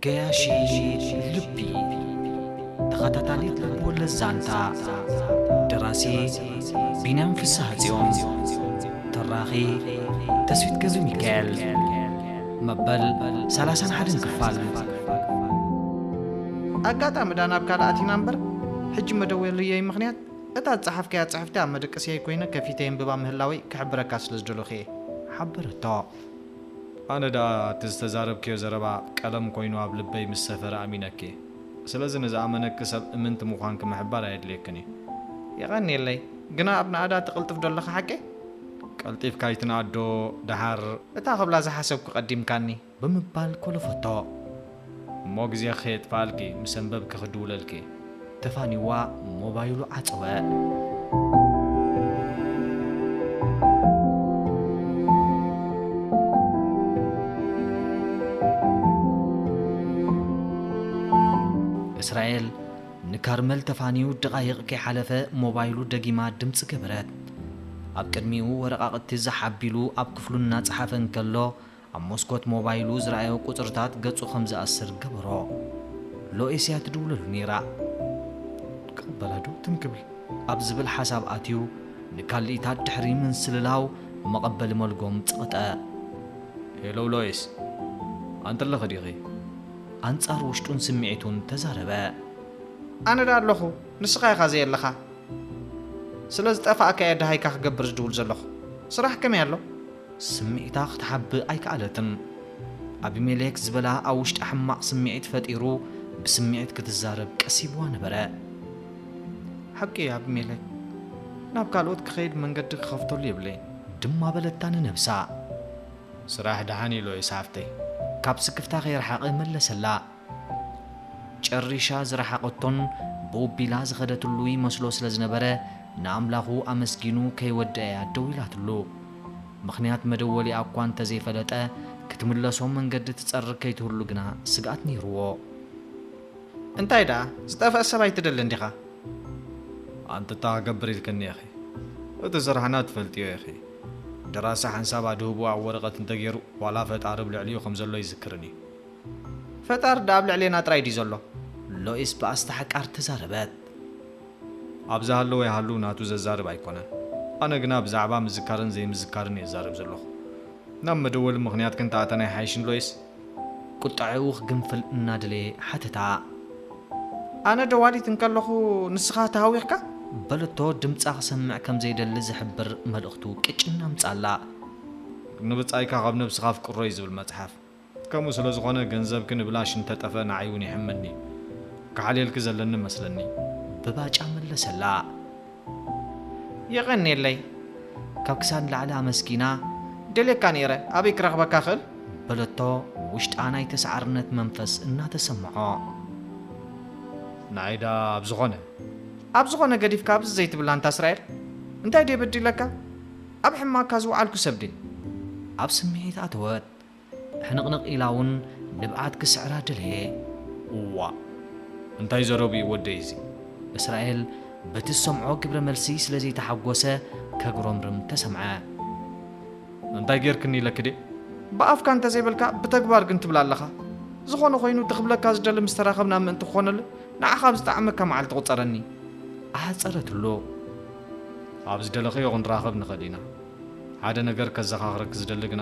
ገያሺ ልቢ ተኸታታሊት ልብወለድ ዛንታ ደራሲ ቢንያም ፍስሃጽዮን ተራኺ ተስፊት ገብረሚካኤል መበል ሰላሳን ሓደን ክፋል ኣጋጣሚ ዳናብ ካልእ ኣቲና እምበር ሕጂ መደወልየይ ምኽንያት እታ ዝጸሓፍካያ ጽሕፍቲ ኣብ መደቀሲየይ ኮይነ ከፊተ የንብባ ምህላወይ ክሕብረካ ስለ ዝደለኹ እየ። ሓበረቶ። ኣነ ደኣ እቲ ዝተዛረብክዮ ዘረባ ቀለም ኮይኑ ኣብ ልበይ ምስ ሰፈረ ኣሚነኪ እየ። ስለዚ ንዝኣመነኪ ሰብ እምንቲ ምዃንኪ ምሕባር ኣየድልየክን እዩ። የቐንየለይ። ግና ኣብ ናእዳ ትቕልጥፍ ዶ ኣለኻ ሓቀይ? ቀልጢፍካ ኣይትንኣድ ዶ ደሓር? እታ ክብላ ዝሓሰብኩ ቀዲምካኒ። ብምባል ኮለፈቶ እሞ ግዜ ከየጥፍኣልኪ ምስ ኣንበብኪ ክድውለልኪ ተፋኒዋ ሞባይሉ ዓጸወ። እስራኤል ንካርመል ተፋንዩ ደቓይቕ ከይሓለፈ ሞባይሉ ደጊማ ድምጺ ገበረት። ኣብ ቅድሚኡ ወረቓቕቲ ዛሕ ኣቢሉ ኣብ ክፍሉ እናጸሓፈ እንከሎ፣ ኣብ መስኮት ሞባይሉ ዝረኣዮ ቁጽርታት ገጹ ከም ዝኣስር ገበሮ። ሎኤስያ ትድውለሉ ነይራ። ክቕበላ ዶ ትም ክብል ኣብ ዝብል ሓሳብ ኣትዩ ንካልኢታት ድሕሪ ምንስልላው መቐበሊ መልጎም ጸቕጠ። ሄሎ ሎኤስ፣ ኣንቲ ኣለኺ ዲኺ? ኣንጻር ውሽጡን ስምዒቱን ተዛረበ። ኣነ ድኣ ኣለኹ፣ ንስኻ ኢኻ ዘየለኻ። ስለ ዝጠፋእካ'የ ደሃይካ ክገብር ዝድውል ዘለኹ። ስራሕ ከመይ ኣሎ? ስምዒታ ክትሓብእ ኣይከኣለትን። ኣቢሜሌክ ዝበላ ኣብ ውሽጣ ሕማቕ ስምዒት ፈጢሩ ብስምዒት ክትዛረብ ቀሲብዋ ነበረ። ሓቂ እዩ ኣቢሜሌክ፣ ናብ ካልኦት ክኸይድ መንገዲ ክኸፍተሉ የብለይን። ድማ በለታ ንነብሳ። ስራሕ ደሓን ኢሉ ዒሳ ሓፍተይ፣ ካብ ስክፍታ ከይረሓቐ መለሰላ። ጨሪሻ ዝረሓቐቶን ቦቢላ ዝኸደትሉ ይመስሎ ስለ ዝነበረ ንኣምላኹ ኣመስጊኑ ከይወደኣ'ያ ደው ኢላትሉ። ምኽንያት መደወሊኣ'ኳ እንተ ዘይፈለጠ ክትምለሶ መንገዲ ትጸርግ ከይትህሉ ግና ስግኣት ነይሩዎ። እንታይ ደኣ ዝጠፍኣ ሰብ ኣይትደልን ዲኻ? ኣንተታ ክገብር ኢልክኒ ኢኺ። እቲ ስራሕና ትፈልጥዮ ኢኺ። ደራሲ ሓንሳብ ኣድህቦ ኣብ ወረቐት እንተገይሩ ዋላ ፈጣሪ ኣብ ልዕሊኡ ከም ዘሎ ኣይዝክርን እዩ። ፈጣር ድኣ ኣብ ልዕሌና ጥራይ ድዩ ዘሎ? ሎይስ ብኣስታሕቃር ተዛረበት። ኣብ ዝሃለወ ይሃሉ ናቱ ዘዛርብ ኣይኮነን። ኣነ ግና ብዛዕባ ምዝካርን ዘይምዝካርን እየ ዝዛረብ ዘለኹ። ናብ መደወሊ ምኽንያት ክንተኣተና ኣይሓይሽን ሎይስ? ቁጠዐኡ ክግንፍል እናደለየ ሓተታ። ኣነ ደዋሊት እንከለኹ ንስኻ ተሃዊኽካ? በለቶ ድምጻ ክሰምዕ ከም ዘይደሊ ዝሕብር መልእኽቱ ቅጭን ኣምጽኣላ። ንብጻይካ ካብ ነብስኻ ኣፍቅሮ እዩ ዝብል መጽሓፍ። ከምኡ ስለ ዝኾነ ገንዘብኪ ንብላሽ እንተ ጠፍኣ ንዓይ ውን የሕመኒ ዩ ክሓልየልኪ ዘለኒ መስለኒ ብባጫ መለሰላ። የቐኔለይ ካብ ክሳድ ንላዕሊ ኣመስጊና ደልየካ ኔረ ኣበይ ክረኽበካ እኽእል? በለቶ ውሽጣ ናይ ተሳዓርነት መንፈስ እናተሰምዖ። ንዓይ ድኣ ኣብ ዝኾነ ኣብ ዝኾነ ገዲፍካ ኣብዚ ዘይትብላ ኣንታ እስራኤል እንታይ ድየ በዲለካ ኣብ ሕማቅካ ዝውዓልኩ ሰብ ድየ? ኣብ ስምዒት ኣተወት ሕንቕንቕ ኢላ ውን ንብዓት ክስዕራ ደለየ። እዋእ እንታይ ዘረቡ ዩ ወደይ እዚ? እስራኤል በቲ ዝሰምዖ ግብረ መልሲ ስለ ዘይተሓጎሰ ከጉረምርም ተሰምዐ። እንታይ ጌርክኒ ኢለኪ ድየ? ብኣፍካ እንተ ዘይበልካ ብተግባር ግን ትብል ኣለኻ። ዝኾነ ኾይኑ እቲ ክብለካ ዝደሊ ምስ ተራኸብና ምእንቲ ክኾነለይ ንዓኻ ኣብ ዝጠዓመካ መዓልቲ ቁጸረኒ። ኣሕጸረትሉ። ኣብ ዝደለኽዮ ክንራኸብ ንኽእል ኢና። ሓደ ነገር ከዘኻኽረኪ ዝደሊ ግና፣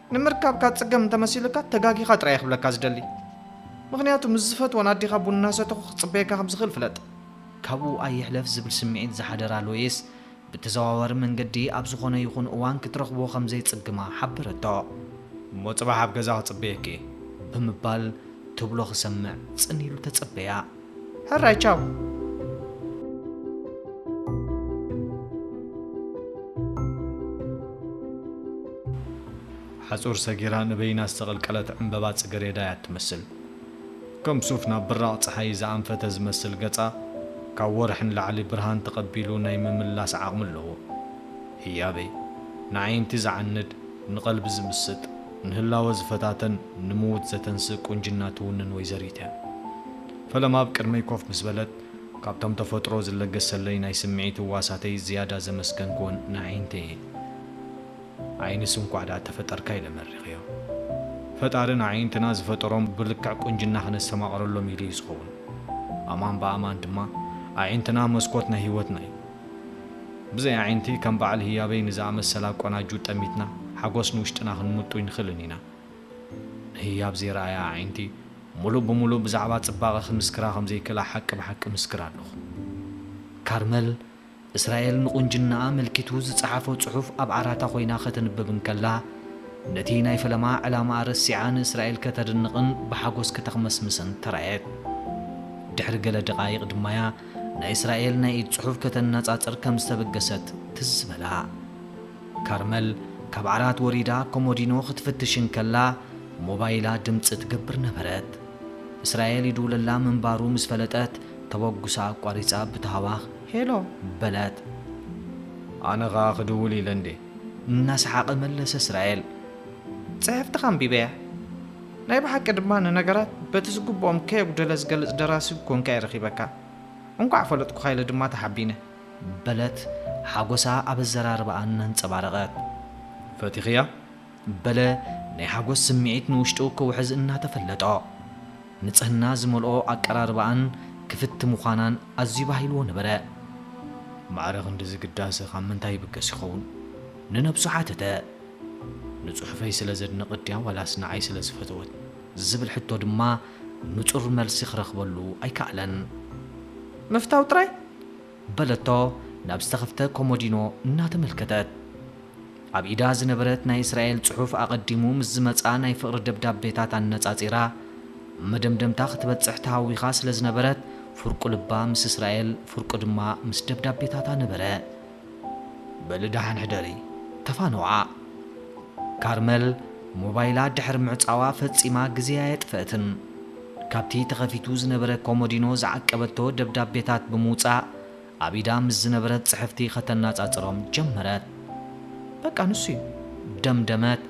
ንምርካብካ ጽገም እንተመሲሉካ ተጋጊኻ ጥራይ እየ ክብለካ ዝደሊ ምኽንያቱ ምስ ዝፈትወን ኣዴኻ ቡን እናሰተኹ ክጽበየካ ከም ዝኽእል ፍለጥ። ካብኡ ኣይሕለፍ ዝብል ስምዒት ዝሓደራ ሎይስ፣ ብተዘዋዋሪ መንገዲ ኣብ ዝኾነ ይኹን እዋን ክትረኽቦ ከም ዘይጽግማ ሓበረቶ። እሞ ጽባሕ ኣብ ገዛ ክጽበየኪ እየ። ብምባል ትብሎ ክሰምዕ ጽን ኢሉ ተጸበያ። ሕራይ ቻው። ሓጹር ሰጊራ ንበይና ዝተቐልቀለት ዕምበባ ጽገሬዳ እያ እትመስል። ከም ሱፍ ናብ ብራቕ ጸሓይ ዝኣንፈተ ዝመስል ገጻ፣ ካብ ወርሒ ንላዕሊ ብርሃን ተቐቢሉ ናይ ምምላስ ዓቕሚ ኣለዎ። ህያበይ! ንኣዒንቲ ዝዓንድ፣ ንቐልቢ ዝምስጥ፣ ንህላወ ዝፈታተን ንምዉት ዘተንስእ ቁንጅና ትዉንን ወይዘሪት'ያ። ፈለማ ኣብ ቅድመይ ኮፍ ምስ በለት፣ ካብቶም ተፈጥሮ ዝለገሰለይ ናይ ስምዒት ህዋሳተይ ዝያዳ ዘመስገንክወን ንኣዒንተይ'የ። ኣዒንስ እንኳዕ ድኣ ተፈጠርካ ኢለ መሪቐዮ። ፈጣሪ ንኣዒንትና ዝፈጠሮም ብልክዕ ቁንጅና ክነስተማቕረሎም ኢሉ'ዩ ዝኸዉን። ኣማን ብኣማን ድማ ኣዒንትና መስኮት ናይ ህይወትና'ዩ። ብዘይ ኣዒንቲ ከም በዓል ህያበይ ንዝኣመሰላ ቆናጁ ጠሚትና ሓጎስ ንውሽጥና ክንምጡ ኣይንኽእልን ኢና። ንህያብ ዘይረኣያ ኣዒንቲ ሙሉእ ብሙሉእ ብዛዕባ ፅባቐ ክምስክራ ከምዘይክእላ ሓቂ ብሓቂ እምስክር ኣለኹ። ካርመል እስራኤል ንቑንጅናኣ ኣመልኪቱ ዝፀሓፎ ፅሑፍ ኣብ ዓራታ ኮይና ከተንብብ እንከላ ነቲ ናይ ፈለማ ዕላምኣ ረሲዓ ንእስራኤል ከተድንቕን ብሓጎስ ከተኽመስምስን ተራእየት። ድሕሪ ገለ ደቓይቕ ድማያ ናይ እስራኤል ናይ ኢድ ጽሑፍ ከተነጻጽር ከም ዝተበገሰት ትዝ በላ። ካርመል ካብ ዓራት ወሪዳ ኮሞዲኖ ክትፍትሽ እንከላ ሞባይላ ድምጺ ትገብር ነበረት። እስራኤል ይድውለላ ምንባሩ ምስ ፈለጠት ተበጉሳ ኣቋሪጻ ብታህዋኽ ሄሎ! በለት። ኣነ ከኣ ክድውል ኢለ እንዴ! እናሰሓቐ መለሰ እስራኤል። ጽሕፍትኻ ኣንቢበያ። ናይ ብሓቂ ድማ ንነገራት በቲ ዝግብኦም ከየጉደለ ዝገልጽ ደራሲ ኰንካ'የ ረኺበካ። እንቋዕ ፈለጥኩኻ ኢለ ድማ ተሓቢነ። በለት ሓጐሳ ኣብ ኣዘራርባኣ እናንጸባረቐት። ፈቲኽያ? በለ ናይ ሓጐስ ስምዒት ንውሽጡ ክውሕዝ እናተፈለጦ። ንጽህና ዝመልኦ ኣቀራርባኣን ክፍቲ ምዃናን ኣዝዩ ባሂልዎ ነበረ። ማዕረ ክንድዚ ግዳሰ ካብ ምንታይ ይብገስ ይኸውን? ንነብሱ ሓተተ። ንጽሑፈይ ስለ ዘድነቐት ድያ ዋላስ ንዓይ ስለ ዝፈተወት? ዝብል ሕቶ ድማ ንጹር መልሲ ክረኽበሉ ኣይከኣለን። ምፍታው ጥራይ? በለቶ ናብ ዝተኸፍተ ኮሞዲኖ እናተመልከተት። ኣብ ኢዳ ዝነበረት ናይ እስራኤል ጽሑፍ ኣቐዲሙ ምስ ዝመጽኣ ናይ ፍቕሪ ደብዳቤታት ኣነጻጺራ ኣብ መደምደምታ ክትበጽሕ ተሃዊኻ ስለ ዝነበረት ፍርቁ ልባ ምስ እስራኤል ፍርቁ ድማ ምስ ደብዳቤታታ ነበረ። በሊ ደሓን ሕደሪ ተፋነውዓ። ካርመል ሞባይላ ድሕሪ ምዕጻዋ ፈጺማ ግዜ ኣየጥፈእትን። ካብቲ ተኸፊቱ ዝነበረ ኮሞዲኖ ዝዓቀበቶ ደብዳቤታት ብምውጻእ ኣብ ኢዳ ምስ ዝነበረት ጽሕፍቲ ከተናጻጽሮም ጀመረት። በቃ ንሱ'ዩ። ደምደመት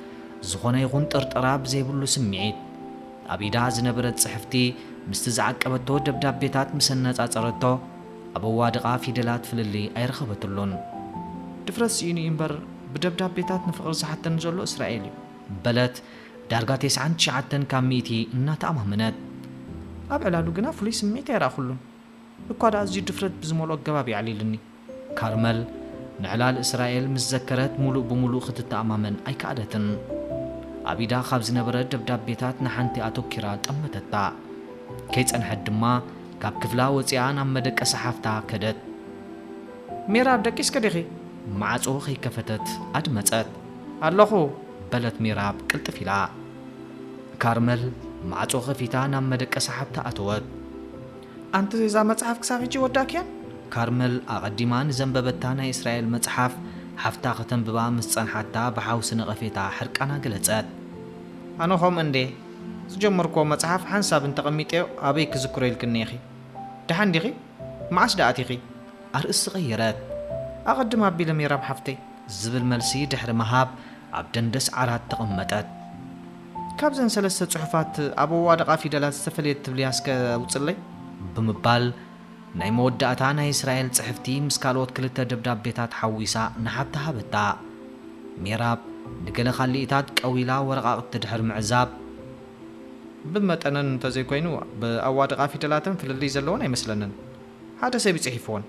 ዝኾነ ይኹን ጥርጠራ ብዘይብሉ ስምዒት። ኣብ ኢዳ ዝነበረት ጽሕፍቲ ምስቲ ዝዓቀበቶ ደብዳቤታት ምስ ኣነጻጸረቶ፣ ኣብ ኣዋድቓ ፊደላት ፍልልይ ኣይረኸበትሉን። ድፍረት ስኢኑ እዩ እምበር ብደብዳቤታት ንፍቕሪ ዝሓተኒ ዘሎ እስራኤል እዩ። በለት ዳርጋ ተስዓን ትሽዓተን ካብ ሚእቲ እናተኣማመነት። ኣብ ዕላሉ ግና ፍሉይ ስምዒት ኣይረኣኹሉን። እኳ ደኣ ኣዝዩ ድፍረት ብዝመልኦ ኣገባብ የዕሊሉኒ። ካርመል ንዕላል እስራኤል ምስ ዘከረት ምሉእ ብምሉእ ክትተኣማመን ኣይከኣለትን። ኣብ ኢዳ ካብ ዝነበረ ደብዳቤታት ንሓንቲ ኣተኲራ ጠመተታ። ከይጸንሐት ድማ። ካብ ክፍላ ወጺኣ ናብ መደቀሲ ሓፍታ ከደት። ሚራ ደቂስኪ ዲኺ? ማዕጾ ከይከፈተት ኣድመጸት። ኣለኹ። በለት ሚራብ ቅልጥፍ ኢላ። ካርመል ማዕጾ ከፊታ ናብ መደቀሲ ሓፍታ ኣተወት። ኣንቲ እዛ መጽሓፍ ክሳብ ሕጂ ወዳእክያን? ካርመል ኣቐዲማ ንዘንበበታ ናይ እስራኤል መጽሓፍ ሓፍታ ከተንብባ ምስ ጸንሓታ ብሓውሲ ነቐፌታ ሕርቃና ገለጸት። ኣነ ከምኡ እንድየ። ዝጀመርክዎ መጽሓፍ ሓንሳብ እንተ ቐሚጠዮ ኣበይ ክዝክሮ ኢልክኒ ኢኺ። ደሓን ዲኺ? መዓስ ደኣ ኣቲኺ? ኣርእስቲ ቀየረት። ኣቐድም ኣቢለ ሜራም ሓፍተይ። ዝብል መልሲ ድሕሪ ምሃብ ኣብ ደንደስ ዓራት ተቐመጠት። ካብዘን ሰለስተ ጽሑፋት ኣብ ኣዋድቓ ፊደላት ዝተፈልየት ትብልያ እስከ ኣውጽለይ? ብምባል ናይ መወዳእታ ናይ እስራኤል ጽሕፍቲ ምስ ካልኦት ክልተ ደብዳቤታት ሓዊሳ ንሓብታ ሃበታ። ሜራብ ንገለ ካልኢታት ቀዊላ ወረቓቕቲ ድሕሪ ምዕዛብ። ብመጠነን እንተ ዘይኮይኑ ብ ኣዋድቓ ፊደላተን ፍልልይ ዘለወን ኣይመስለንን ሓደ ሰብ እዩ ጽሒፍወን።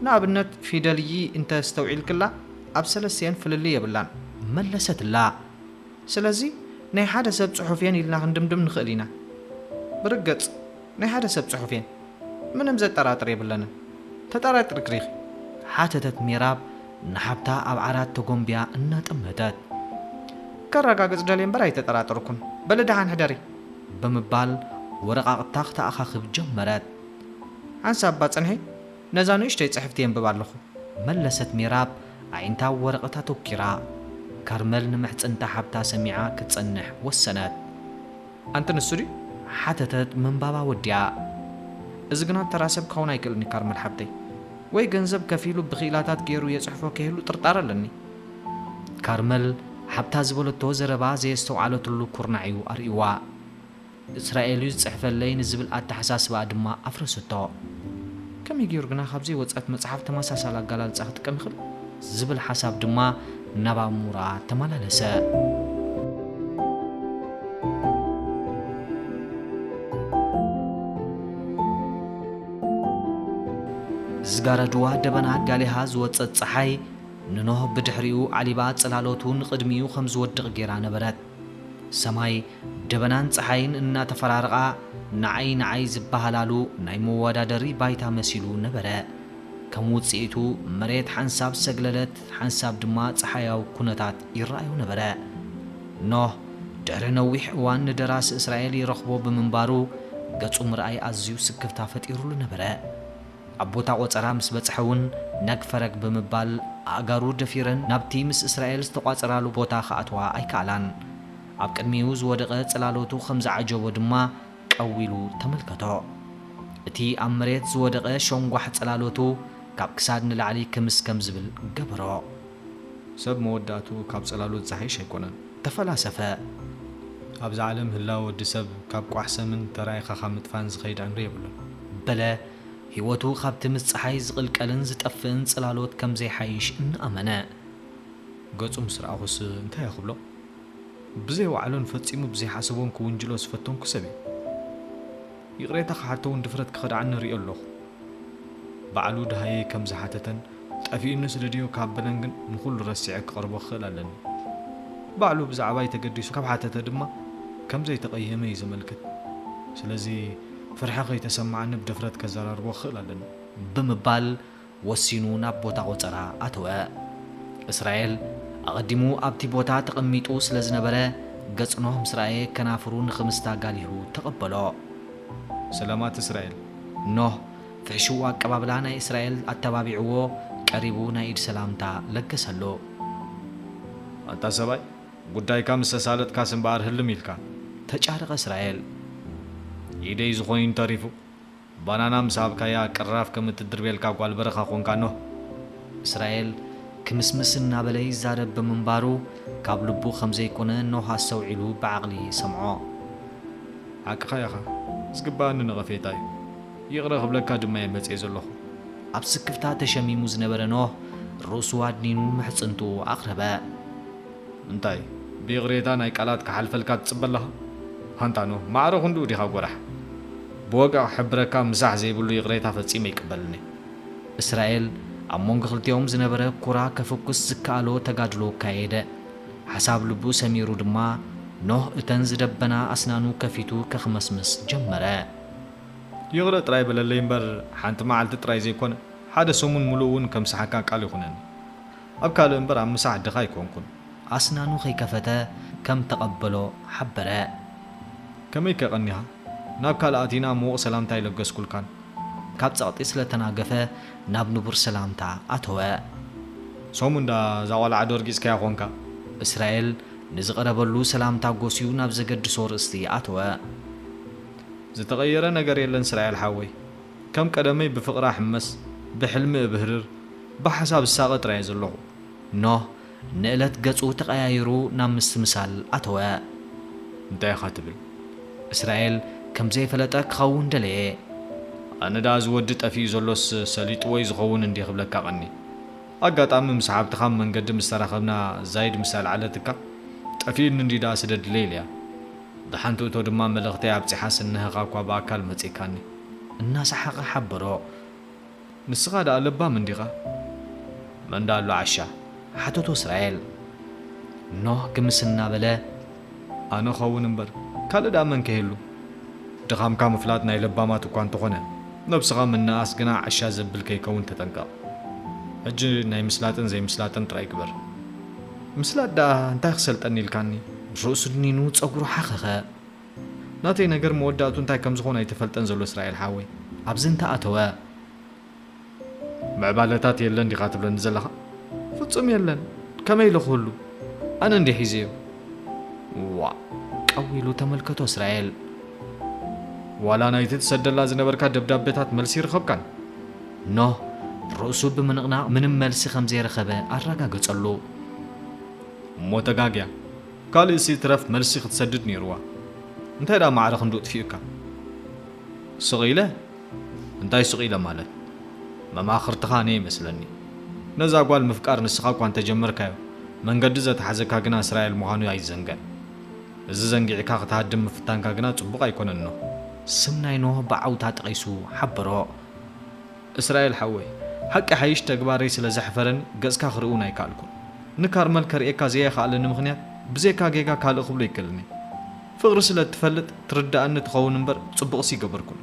ንኣብነት ፊደል ይ እንተ ኣስተውዒልክላ ኣብ ሰለስቲኤን ፍልልይ የብላን። መለሰትላ። ስለዚ ናይ ሓደ ሰብ ጽሑፍ'የን ኢልና ክንድምድም ንኽእል ኢና። ብርግጽ። ናይ ሓደ ሰብ ጽሑፍ እየን ምንም ዘጠራጥር የብለንን ተጠራጢርክሪ ኢኺ። ሓተተት ሜራብ ንሓብታ ኣብ ዓራት ተጎምብያ እናጠመተት። ከረጋግጽ ደልየ እምበር ኣይተጠራጠርኩን በሊ ደሓን ሕደሪ ብምባል ወረቓቕታ ክተኣኻኽብ ጀመረት። ሓንሳብ እባ ጽንሒ ነዛ ንእሽተይ ጽሕፍቲ የንብብ ኣለኹ። መለሰት ሜራብ ኣዒንታ ኣብ ወረቐት ኣተኲራ። ካርመል ንምሕጽንታ ሓብታ ሰሚዓ ክትጸንሕ ወሰነት። ኣንቲ ንሱ ድዩ? ሓተተት ምንባባ ወዲኣ። እዚ ግና ተራ ሰብ ክኸውን ኣይክእልን እዩ ካርመል ሓብተይ። ወይ ገንዘብ ከፊሉ ብክኢላታት ገይሩ የጽሕፎ ከይህሉ ጥርጣረ ኣለኒ። ካርመል ሓብታ ዝበለቶ ዘረባ ዘየስተውዓለትሉ ኩርናዕ እዩ ኣርእዩዋ። እስራኤል እዩ ዝጽሕፈለይ ንዝብል ኣተሓሳስባኣ ድማ ኣፍረሰቶ። ከመይ ገይሩ ግና ካብ ዘይወጸት መጽሓፍ ተመሳሳሊ ኣገላልጻ ክጥቀም ይኽእል? ዝብል ሓሳብ ድማ ናብ ኣእምሮኣ ተመላለሰ። ዝጋረድዋ ደበና ጋሊሃ ዝወጸት ጸሓይ ንኖህ ብድሕሪኡ ዓሊባ ጽላሎቱ ንቕድሚኡ ከም ዝወድቕ ገይራ ነበረት። ሰማይ ደበናን ጸሓይን እናተፈራረቓ ንዓይ ንዓይ ዝበሃላሉ ናይ መወዳደሪ ባይታ መሲሉ ነበረ። ከም ውጽኢቱ መሬት ሓንሳብ ሰግለለት ሓንሳብ ድማ ጸሓያዊ ኩነታት ይረኣዮ ነበረ። ኖህ ድሕሪ ነዊሕ እዋን ንደራሲ እስራኤል ይረኽቦ ብምንባሩ ገጹ ምርኣይ ኣዝዩ ስክፍታ ፈጢሩሉ ነበረ። ኣብ ቦታ ቆጸራ ምስ በጽሐ እውን ነግ ፈረግ ብምባል ኣእጋሩ ደፊረን ናብቲ ምስ እስራኤል ዝተቋጸራሉ ቦታ ክኣትዋ ኣይከኣላን። ኣብ ቅድሚኡ ዝወደቐ ጽላሎቱ ከም ዝዓጀቦ ድማ ቀው ኢሉ ተመልከቶ። እቲ ኣብ መሬት ዝወደቐ ሸንጓሕ ጽላሎቱ ካብ ክሳድ ንላዕሊ ክምስ ከም ዝብል ገበሮ። ሰብ መወዳእትኡ ካብ ጽላሎት ዝሓይሽ ኣይኮነን። ተፈላሰፈ። ኣብዛ ዓለም ህላወ ወዲ ሰብ ካብ ቋሕ ሰምን ተራኢኻ ካብ ምጥፋእን ዝኸይድ ዕምሪ የብሉን። በለ ህይወቱ ካብቲ ምስ ጸሓይ ዝቕልቀልን ዝጠፍእን ጽላሎት ከም ዘይሓይሽ እናኣመነ። ገጹ ምስ ረኣኹስ እንታይ እየ ክብሎ? ብዘይ ዋዕሎን ፈጺሙ ብዘይሓሰቦን ክውንጅሎ ዝፈተንኩ ሰብ እዩ። ይቕሬታ ክሓቶ ውን ድፍረት ክኸድዓኒ እሪኦ ኣለኹ። ባዕሉ ደሃየይ ከም ዝሓተተን ጠፊኡኒ ስለ ድዮ ካብ በለን ግን ንኹሉ ረሲዐ ክቐርቦ ክኽእል ኣለኒ። ባዕሉ ብዛዕባይ ተገዲሱ ካብ ሓተተ ድማ ከም ዘይተቐየመ እዩ ዘመልክት። ስለዚ ፍርሒ ከይተሰመዓኒ ብድፍረት ከዘራርቦ ክኽእል ኣለኒ። ብምባል ወሲኑ ናብ ቦታ ቖጸራ ኣተወ። እስራኤል ኣቐዲሙ ኣብቲ ቦታ ተቐሚጡ ስለ ዝነበረ፣ ገጽ ኖህ ምስ ረኣየ ከናፍሩ ንኽምስት ኣጋሊሁ ተቐበሎ። ሰላማት እስራኤል። ኖህ ፍሕሽው ኣቀባብላ ናይ እስራኤል ኣተባቢዕዎ ቀሪቡ ናይ ኢድ ሰላምታ ለገሰሉ። ኣንታ ሰብኣይ፣ ጉዳይካ ምስ ኣሳለጥካስ እምበኣር ህልም ኢልካ። ተጫረቐ እስራኤል። ኢደይ ዝኾይን ተሪፉ። ባናና ምስ ሃብካያ ቅራፍ ከም እትድርብየልካ ጓል በረኻ ኰንካ ኖህ። እስራኤል ክምስምስ እናበለ ይዛረብ ብምንባሩ ካብ ልቡ ከም ዘይኰነ ኖህ ኣስተውዒሉ ብዓቕሊ ሰምዖ። ሓቅኻ ኢኻ፣ ዝግብኣኒ ነቐፌታ እዩ፣ ይቕረ ክብለካ ድማ እየ መጺኤ ዘለኹ። ኣብ ስክፍታ ተሸሚሙ ዝነበረ ኖህ ርእሱ ኣድኒኑ ምሕጽንትኡ ኣቕረበ። እንታይ ብይቕሬታ ናይ ቃላት ክሓልፈልካ ትጽበ ኣለኻ ሃንታኖ ማዕረ ክንድኡ ዲኻ ጎራሕ ብወግዒ ክሕብረካ ምሳሕ ዘይብሉ ይቕሬታ ፈጺመ ኣይቅበልን'የ። እስራኤል ኣብ መንጎ ክልቲኦም ዝነበረ ኩራ ከፍኩስ ዝከኣሎ ተጋድሎ ኣካየደ። ሓሳብ ልቡ ሰሚሩ ድማ ኖህ እተን ዝደበና ኣስናኑ ከፊቱ ከክመስምስ ጀመረ። ይቕረ ጥራይ በለለይ እምበር ሓንቲ መዓልቲ ጥራይ ዘይኮነ ሓደ ሰሙን ምሉእ'ውን ከምስሓካ ቃል ይኹነኒ። ኣብ ካልእ እምበር ኣብ ምሳሕ ድኻ ኣይኮንኩን። ኣስናኑ ከይከፈተ ከም ተቐበሎ ሓበረ። ከመይከ ቀኒኻ? ናብ ካልእ ኣቲና ምዉቕ ሰላምታ ኣይለገስኩልካን። ካብ ጸቕጢ ስለ ተናገፈ ናብ ንቡር ሰላምታ ኣተወ። ሰሙን ደኣ እዛ ቆልዓ ዶ ርጊጽካያ ኮንካ? እስራኤል ንዝቐረበሉ ሰላምታ ጎስዩ ናብ ዘገድሶ ርእስቲ ኣተወ። ዝተቐየረ ነገር የለን ስራኤል ሓወይ። ከም ቀደመይ ብፍቕራ ሕመስ፣ ብሕልሚ እብህርር፣ ብሓሳብ እሳቐ ጥራይ እየ ዘለኹ። ኖህ ንእለት ገጹ ተቐያይሩ ናብ ምስትምሳል ኣተወ። እንታይ ኢኻ ትብል? እስራኤል ከም ዘይፈለጠ ክኸውን ደለየ። ኣነ ደኣ እዚ ወዲ ጠፊኡ ዘሎስ ሰሊጥዎ'ዩ ዝኸውን እንድየ ክብለካ ቀንየ። ኣጋጣሚ ምስ ሓብትኻ ኣብ መንገዲ ምስ ተራኸብና ዛይድ ምስ ኣልዓለትካ፣ ጠፊኡኒ እንድዩ ደኣ ስደድለይ ኢለያ። ብሓንቲ እቶ ድማ መልእኽተይ ኣብጺሓስ እነሀኻ'ኳ ብኣካል መጺእካኒ። እናሰሓቐ ሓበሮ። ንስኻ ደኣ ለባም እንዲኻ? መን ደኣ ኣሎ ዓሻ? ሓተቶ እስራኤል። ኖህ ግምስ እናበለ። ኣነ እኸውን እምበር ካልእ ደኣ መን ከይህሉ? ድኻምካ ምፍላጥ ናይ ለባማት እኳ እንተኾነ ነብስኻ ምንእኣስ ግና ዓሻ ዘብል ከይከውን ተጠንቀቕ። ሕጂ ናይ ምስላጥን ዘይምስላጥን ጥራይ ግበር። ምስላጥ ደኣ እንታይ ክሰልጠኒ ኢልካኒ? ርእሱ ድኒኑ ጸጉሩ ሓኸኸ። ናተይ ነገር መወዳእቱ እንታይ ከም ዝኾን ኣይተፈልጠን ዘሎ እስራኤል ሓወይ። ኣብዚ እንተ ኣተወ ምዕባለታት የለን ዲኻ ትብለኒ ዘለኻ? ፍጹም የለን ከመይ ኢለ ክህሉ ኣነ እንዲየ ሒዘዮ። ዋእ ቀው ኢሉ ተመልከቶ እስራኤል። ዋላ ናይቲ ትሰደላ ዝነበርካ ደብዳቤታት መልሲ ይርኸብካን? ኖህ ርእሱ ብምንቕናቕ ምንም መልሲ ከም ዘይረኸበ ኣረጋገጸሉ። እሞ ተጋግያ። ካልእ ሲ ትረፍ መልሲ ክትሰድድ ኔርዋ እንታይ ደኣ ማዕረ ክንድኡ ጥፊኡካ ስቅ ኢለ እንታይ ስቅ ኢለ ማለት መማክርትካ ነይ መስለኒ ነዛ ጓል ምፍቃር ንስካ እኳ እንተጀመርካዮ መንገዲ ዘትሓዘካ ግና እስራኤል ምኳኑ ኣይዘንገን እዚ ዘንጊዕካ ክትሃድም ምፍታንካ ግና ጽቡቅ ኣይኮነን ኖህ ስም ናይ ኖህ ብዓውታ ጠቂሱ ሓበሮ። እስራኤል ሓወይ ሓቂ ይሓይሽ ተግባረይ ስለ ዘሕፈረኒ ገጽካ ክርኢ ውን ኣይካኣልኩን ንካርመል ከርእየካ ዘየካኣለኒ ምክንያት ብዘይካ ጌጋ ካልእ ክብሎ ኣይክእልን እየ ፍቅሪ ስለ እትፈልጥ ትርዳኣኒ ትከውን እምበር ጽቡቅሲ ይገበርኩን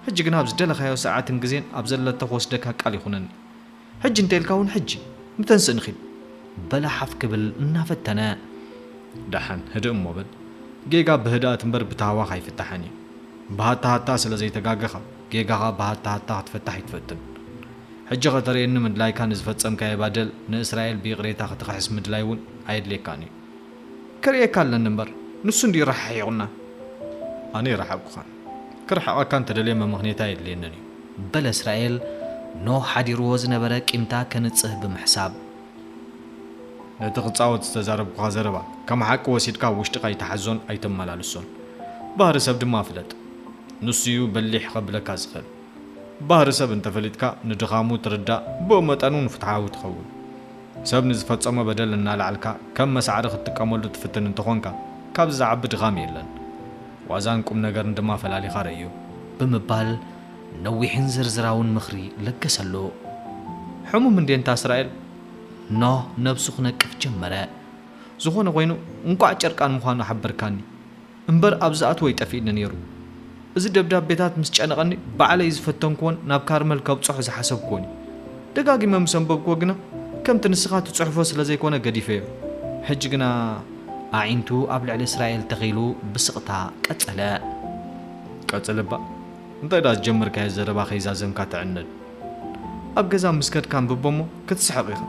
ሕጂ ግና ኣብ ዝደለካዮ ሳዓትን ግዜን ኣብ ዘለቶ ክወስደካ ቃል ይኩነኒ ሕጂ እንተኢልካ ውን ሕጂ ንተንስእ ንኪድ በላ ሓፍ ክብል እናፈተነ። ዳሓን ህድእ እሞ በል ጌጋ ብህድኣት እምበር ብታህዋክ ኣይፍታሕን እዩ ብሃታሃታ ስለ ዘይተጋገካ። ጌጋኻ ብሃታ ሃታ ክትፈታሕ ኣይትፈትን ሕጂ ከተርእየኒ ምድላይካ ንዝፈጸምካዬ ባደል ንእስራኤል ብይቕሬታ ክትኽሕስ ምድላይ ውን ኣየድልየካን እዩ። ክርእየካ ኣለኒ እምበር ንሱ እንድዩ ራሓሒቑና ኣነ ኣይራሓቕኩኻን ክርሕቐካ እንተደልየ መመኽኔታ ኣየድልየንን እዩ። በለ እስራኤል ኖህ ሓዲርዎ ዝነበረ ቂምታ ከንጽህ ብምሕሳብ። ነቲ ክጻወት ዝተዛረብኩኻ ዘረባ ከም ሓቂ ወሲድካ ኣብ ውሽጥኻ ኣይትሓዞን ኣይተመላልሶን። ባህሪ ሰብ ድማ ፍለጥ። ንሱ'ዩ በሊሕ ከብለካ ዝኽእል። ባህሪ ሰብ እንተፈሊጥካ ንድኻሙ ትርዳእ ብኡመጠን'ውን ፍትሓዊ ትኸውን። ሰብ ንዝፈጸሞ በደል እናልዓልካ ከም መሳዕሪ ክትጥቀመሉ ትፍትን እንተኾንካ ካብዚ ዝዓቢ ድኻም የለን። ዋዛን ቁምነገርን ድማ ፈላሊኻ ረእዮ። ብምባል ነዊሕን ዝርዝራውን ምኽሪ ለገሰሉ። ሕሙም እንድየ እንታ እስራኤል? ኖህ ነብሱ ክነቅፍ ጀመረ። ዝኾነ ኾይኑ እንቋዕ ጨርቃን ምዃኑ ሓበርካኒ። እምበር ኣብ ዝኣትዎ ይጠፍእኒ ነይሩ። እዚ ደብዳቤታት ምስ ጨነቐኒ ባዕለይ ዝፈተንክዎን ናብ ካርመል ከብጽሖ ዝሓሰብክዎን እዩ። ደጋጊመ ምስ ኣንበብክዎ ግና ከምቲ ንስኻ ትጽሕፎ ስለ ዘይኮነ ገዲፈዮ። ሕጂ ግና። ኣዒንቱ ኣብ ልዕሊ እስራኤል ተኺሉ ብስቕታ ቀጸለ። ቀጽል'ባ። እንታይ ደኣ ዝጀመርካዮ ዘረባ ከይዛዘምካ ትዕነድ ኣብ ገዛ ምስ ከድካ ኣንብቦ እሞ ክትስሕቕ ኢኻ።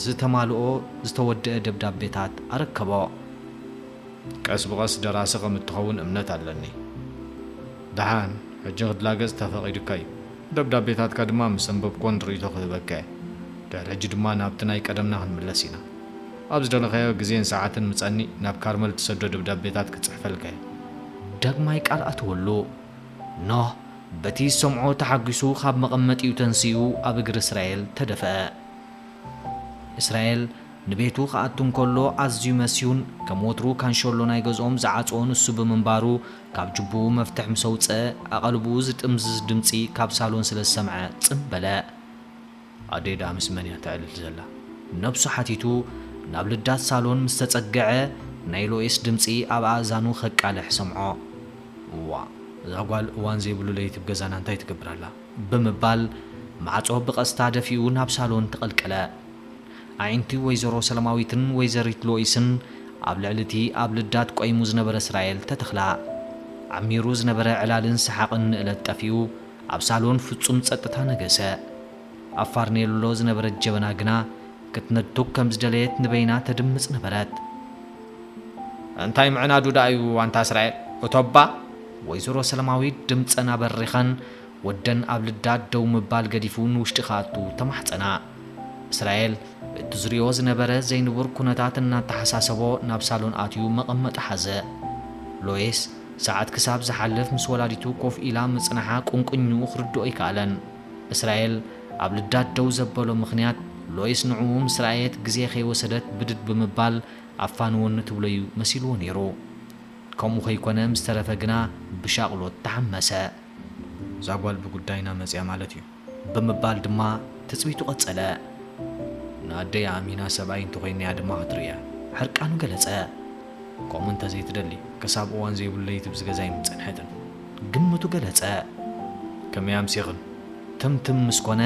ዝተማልኦ ዝተወደኣ ደብዳቤታት ኣረከቦ። ቀስ ብቐስ ደራሲ ከም እትኸውን እምነት ኣለኒ። ደሓን፣ ሕጂ ክትላገጽ ተፈቒዱካ እዩ። ደብዳቤታትካ ድማ ምስ ኣንበብኩወን ርእይቶ ክህበካ እየ። ድሕሪ ሕጂ ድማ ናብቲ ናይ ቀደምና ክንምለስ ኢና። ኣብ ዝደለኻዮ ግዜን ሰዓትን ምጸኒ ናብ ካርመል እትሰዶ ደብዳቤታት ክጽሕፈልካ እየ። ዳግማይ ቃል ኣተወሉ። ኖህ በቲ ዝሰምዖ ተሓጒሱ ኻብ መቐመጢኡ ተንሲኡ ኣብ እግሪ እስራኤል ተደፍአ። እስራኤል ንቤቱ ኺኣቱ እንከሎ ኣዝዩ መስዩን ከም ወትሩ ካንሸሎ ናይ ገዝኦም ዝዓጽዎ ንሱ ብምንባሩ ካብ ጁቡኡ መፍትሕ ምስ ኣውጽኣ ኣቐልቡኡ ዝጥምዝዝ ድምጺ ካብ ሳሎን ስለ ዝሰምዐ ጽን በለ። ኣደይ ደኣ ምስ መን እያ ተዕልል ዘላ? ነብሱ ሓቲቱ ናብ ልዳት ሳሎን ምስ ተጸገዐ ናይ ሎይስ ድምጺ ኣብ ኣእዛኑ ከቃልሕ ሰምዖ። እዋእ እዛ ጓል እዋን ዘይብሉ ለይቲ ብ ገዛና እንታይ ትገብር ኣላ? ብምባል ማዕጾ ብቐስታ ደፊኡ ናብ ሳሎን ተቐልቀለ። ኣዒንቲ ወይዘሮ ሰለማዊትን ወይዘሪት ሎይስን ኣብ ልዕሊ እቲ ኣብ ልዳት ቆይሙ ዝነበረ እስራኤል ተተኽላ። ዓሚሩ ዝነበረ ዕላልን ሰሓቕን ንእለት ጠፊኡ። ኣብ ሳሎን ፍጹም ጸጥታ ነገሰ። ኣብ ፋርኔሎ ዝነበረት ጀበና ግና ክትነድቶ ከም ዝደለየት ንበይና ተድምጽ ነበረት። እንታይ ምዕናዱ ደኣ'ዩ ኣንታ እስራኤል እቶ'ባ! ወይዘሮ ሰለማዊት ድምጸን ኣበሪኸን፣ ወደን ኣብ ልዳ ደው ምባል ገዲፉ ንውሽጢ ክኣቱ ተማሕጸና። እስራኤል በቲ ዝሪኦ ዝነበረ ዘይንቡር ኩነታት እናተሓሳሰቦ ናብ ሳሎን ኣትዩ መቐመጢ ሓዘ። ሎይስ ሰዓት ክሳብ ዝሓልፍ ምስ ወላዲቱ ኮፍ ኢላ ምጽናሓ ቁንቁኝኡ ክርድኦ ኣይከኣለን። እስራኤል ኣብ ልዳት ደው ዘበሎ ምኽንያት ሎይስ ንዕኡ ምስ ረኣየት ግዜ ከይወሰደት ብድድ ብምባል ኣፋንወኒ ትብሎ'ዩ መሲልዎ ነይሩ። ከምኡ ከይኮነ ምስ ተረፈ ግና ብሻቕሎት ተሓመሰ። እዛ ጓል ብጉዳይና መጺኣ ማለት'ዩ። ብምባል ድማ ትጽቢቱ ቀጸለ። ንኣደይ ኣእሚና ሰብኣይ እንተኾይነያ ድማ ክትርእያ። ሕርቃኑ ገለጸ። ከምኡ እንተዘይትደሊ ክሳብ እዋን ዘይብሉ ለይቲ ብዚ ገዛይ ምጸንሐትን። ግምቱ ገለጸ። ከመይ ኣምሲኽን? ትምትም ምስ ኮነ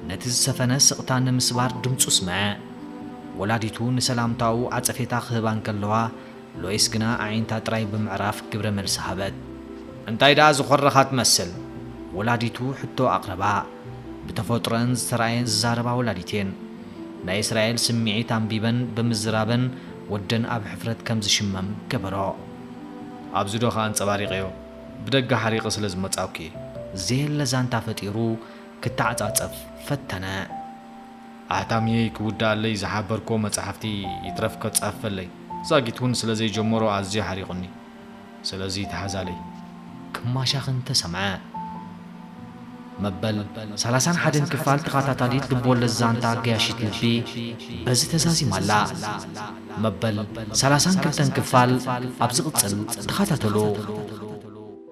ነቲ ዝሰፈነ ስቕታ ንምስባር ድምጹ ስምዐ። ወላዲቱ ንሰላምታኡ ዓጸፌታ ክህባ እንከለዋ ሎይስ ግና ኣዒንታ ጥራይ ብምዕራፍ ግብረ መልሲ ሃበት። እንታይ ደኣ ዝኾረኻ ትመስል? ወላዲቱ ሕቶ ኣቕረባ። ብተፈጥሮኣን ዝተራእየን ዝዛረባ ወላዲት እየን። ናይ እስራኤል ስምዒት ኣንቢበን ብምዝራበን ወደን ኣብ ሕፍረት ከም ዝሽመም ገበሮ። ኣብዚ ዶ ከ ኣንጸባሪቐዮ? ብደገ ሓሪቐ ስለ ዝመጻእኩ እየ። ዘየለ ዛንታ ፈጢሩ ክተዓጻጸፍ ፈተነ። ኣሕታሚየይ ክውድኣለይ ዝሓበርክዎ መጻሕፍቲ ይትረፍ ከጻፍፈለይ ዛጊት ውን ስለ ዘይጀመሮ ኣዝዩ ሓሪቑኒ። ስለዚ ተሓዛለይ። ክማሻኽ እንተ ሰምዐ። መበል ሰላሳን ሓደን ክፋል ተኻታታሊት ልብወለድ ዛንታ ገያሺት ልቢ በዚ ተዛዚማ ኣላ። መበል ሰላሳን ክልተን ክፋል ኣብ ዝቕጽል ተኻታተሉ።